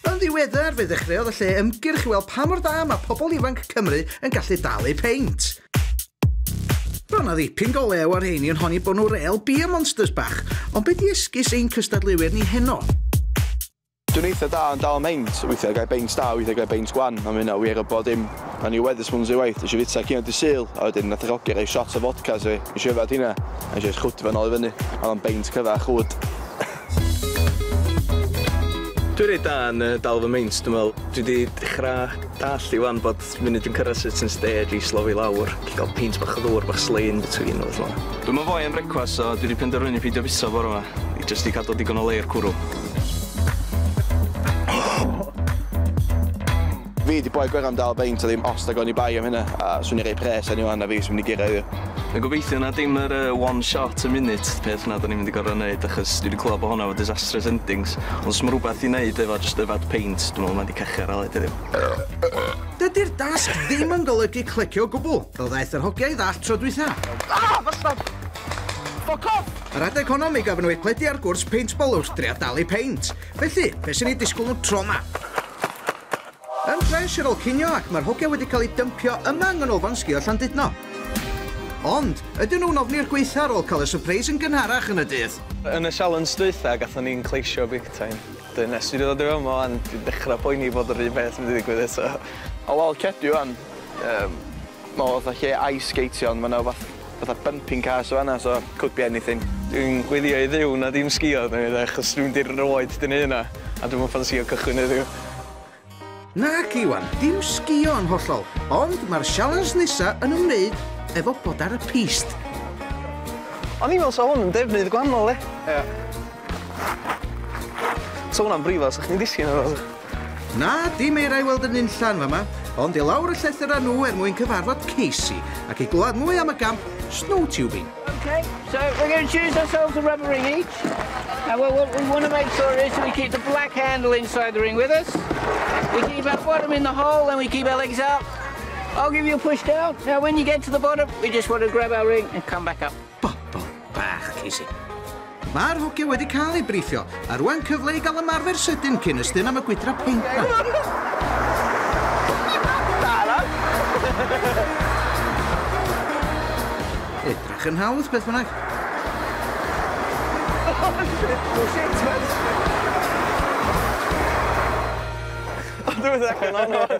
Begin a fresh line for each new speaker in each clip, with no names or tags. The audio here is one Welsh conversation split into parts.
Yn ddiweddar, fe ddechreuodd y lle ymgyrch i weld pa mor dda mae pobl ifanc Cymru yn gallu dal eu peint. Roedd yna ddipyn go lew ar rheini yn honi bod nhw rel beer monsters bach, ond be di esgus ein cystadleuwyr ni heno?
Dwi'n eitha da yn dal meint, weithiau gael beint da, weithiau gael beint gwan, a mae hynna wir o bod dim. O'n i weddus mwyn ei waith, eisiau fita cyn o di syl, a wedyn nath y roger rei shot o fodca, so eisiau yfad hynna, a eisiau chwtio fan ôl i fyny, a o'n beint cyfa chwd.
Dwi reit da yn yy dal fy meints dwi me'wl. Dwi 'di dechra dallt i ŵan bod munud dwi'n cyrradd certain stage i slofi lawr, gellu ga'l peint bach o ddŵr bach slei in between a petha fel 'a. Dwi'm yn foi am brecwast so dwi 'di penderfynu peidio fiso bore 'ma, i jyst i cadw digon o le i'r cwrw.
Fi di boi gweran dal beint a ddim ost ag oni bai am hynna a swn i rei pres eni wan na fi sy'n mynd i gyrra iddo. Na gobeithio na dim
yr yy one shot a minute peth na da ni'n mynd i gor'o' neud achos dwi di clywed bo' honna efo disastrous endings ond os ma' rwbath i neud efo jyst yfad peint dwi me'wl ma' di cachu ar aled heddiw. Dydi'r dasg
ddim yn golygu clecio o gwbl, fel ddaeth yr hogia i ddallt tro dwytha. Ah! Bastard!
Ffwc off! Yr adeg honno mi gafon
nhw eu cledu ar gwrs peintbol wrth dria dalu peint. Felly, be' sy'n eu disgwl nhw tro 'ma? Yn ffres ar ôl cinio ac mae'r hogia wedi cael eu dympio yma yng Nghanolfan Sgïo Llandudno. Ond, ydyn nhw'n ofni'r gwaetha ar ôl cael y sypreis yn gynharach yn y dydd? Yn y sialens
dwytha gathon ni'n cleisio big time. Wedyn nes fi ddod i fama wan dwi'n dechra poeni bod yr un peth mynd i ddigwydd eto. O wel cedi
wan yym. Ma' o fatha lle ice sgeitio ond ma' 'na wbath fatha bumping cars yn fan'na so could be anything. Dwi'n gweddio i
Dduw na dim sgïo 'da fi 'de achos dwi'm 'di erioed 'di neu' hynna a dwi'm yn ffansïo cychwyn heddiw. Nac
Iwan, dim sgïo yn hollol, ond ma'r sialens nesa yn ymwneud efo bod ar y piste.
O'n i'n me'wl 'sa hwn yn defnydd gwannol 'de?
Ia.
'Sa hwnna'n brifo' 'sych chdi'n disgyn arno fo. Na, dim
eira i weld yn nunllan fama, ond i lawr y llethr â nhw er mwyn cyfarfod Casey ac i glywed mwy am y gamp snow tubing. Okay, so
we're going to choose ourselves a rubber ring each. And what, what we want to make sure is we keep the black handle inside the ring with us. We keep our bottom in the hole, then we keep our legs up. I'll give you a push down. Now when you get to the bottom, we just want to grab our ring and come back up. Bobl bach,
Casey. Mae'r hogia wedi cael ei briffio, a rwan cyfle i gael ymarfer sydyn cyn ystyn am y gwydra peint Edrach yn hawdd, beth bynnag. Ond dwi'n
meddwl allan o'n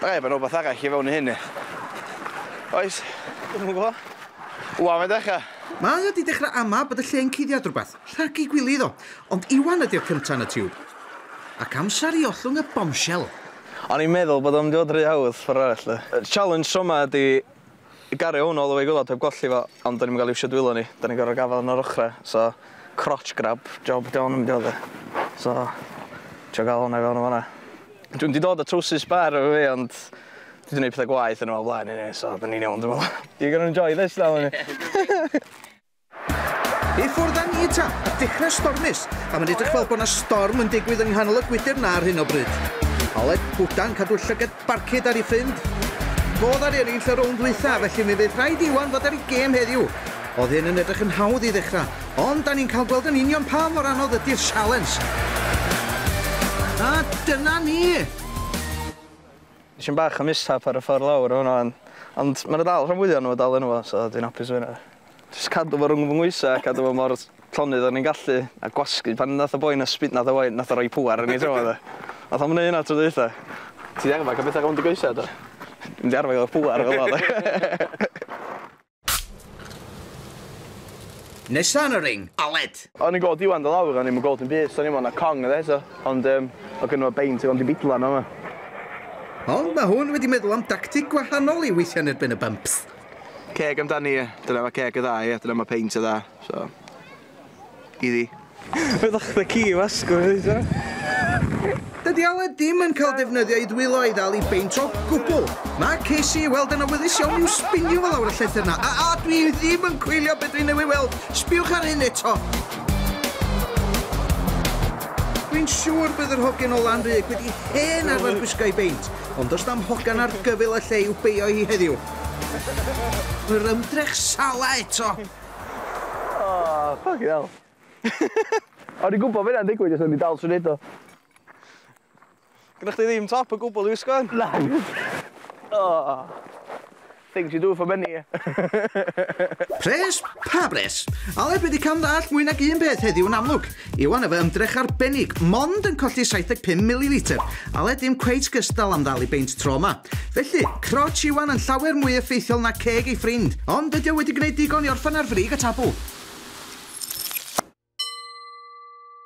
Rhaid bod 'na wbath arall i fewn i hyn ie? Oes? Dwi'm yn gwbo.
Wan mae'n dechra.
Mae o 'di dechra
ama bod y lle yn cuddiad rwbath. Rhag ei gwili iddo. Ond Iwan ydi'r cynta yn y tiwb. Ac amsar i ollwng y bombshell. O'n i'n meddwl
bod o'n mynd i fod ry hawdd ffor arall de. Y challenge tro 'ma ydi Gario hwn all the way i gwilod heb golli fo ond do'n i'm yn ga'l iwsio dwylo ni, do'n i'n gor'o' gafal yn yr ochre so crotch grab job 'di hon yn mynd i fod ia? So trio ga'l honna i fewn yn fan 'na. Dwi'm 'di dod â trowsus sbêr efo fi ond dwi 'di neud petha gwaeth yn y man blaen eniwe so 'dan ni'n iawn dwi me'wl. You gonna enjoy this now aren't you?
I ffwrdd â ni ta! A dechrau stormus! A mae'n edrych fel bod yna storm yn digwydd yng nghanol y gwydr na ar hyn o bryd. Aled Bwdan cadw llygad Barcud ar ei ffrind. Godd ar eraill y rownd ddwytha, felly mi fydd rhaid Iwan fod ar ei gêm heddiw. Oedd hyn yn edrych yn hawdd i ddechrau, ond da ni'n cael gweld yn union pa mor anodd ydy'r sialens. A dyna ni!
Nes i'm bach o mishap ar y ffordd lawr o hwnna, ond ma' 'na dal rhan fwya o nw dal yno fo, so dwi'n apus efo hynna. Jyst cadw fo rwng fy nghoesau a cadw fo mor llonydd o'n i'n gallu a gwasgu. Pan nath y boi 'na sbi- nath y boi nath o roi pŵer arno fi tro 'ma do. Nath o'm neu' hynna tro dwytha. Ti 'di arfar ca'l petha rownd dy goesau do? Dwi 'di arfar ga'l pŵer efo fo do.
Nesa yn y ring, Aled! O'n i'n gweld Iwan do
lawr o'n i'm yn gweld dim byd so o'n i'm ond a cong oedd e so ond yym oedd gynno fo beint oedd o'n mynd i bidlan yn fama.
Ond ma' hwn wedi meddwl am dactig gwahanol i weithio yn erbyn y bumps. Ceg amdani
ie. Dyna ma' ceg y dda ie? Dyna ma' peint y dda. So.
Iddi. Ydach chdi
ci i
wasgu fi eto? Dydy
Aled dim yn cael defnyddio ei ddwylo i ddal i beint o gwbl. Mae Casey i weld yn awyddus iawn i'w sbinio fo lawr y llethr na. A a dwi ddim yn coelio be dwi newydd weld. Sbiwch ar hyn eto. Dwi'n siŵr bydd yr hogyn o Lanrug wedi hen arfer gwisgo ei beint, ond does na'm hogan ar gyfyl y lle i'w beio hi heddiw. Yr ymdrech Salah eto!
O, ffycin hel. O'n i'n gwybod fy hynna'n digwydd jyst o'n i'n dal trwy neud o. Gynna chdi ddim top o gwbl i wisgo yn? Na. O. Things you do for money.
Pres? Pa bres? Aled wedi cam ddallt mwy nag un peth heddiw yn amlwg. Iwan efo ymdrech arbennig, mond yn colli 75 millilitr, ale dim cweit gystal am ddal i beint tro yma. Felly, crots Iwan yn llawer mwy effeithiol na ceg ei ffrind, ond ydy o wedi gwneud digon i orffen ar frig y tabl?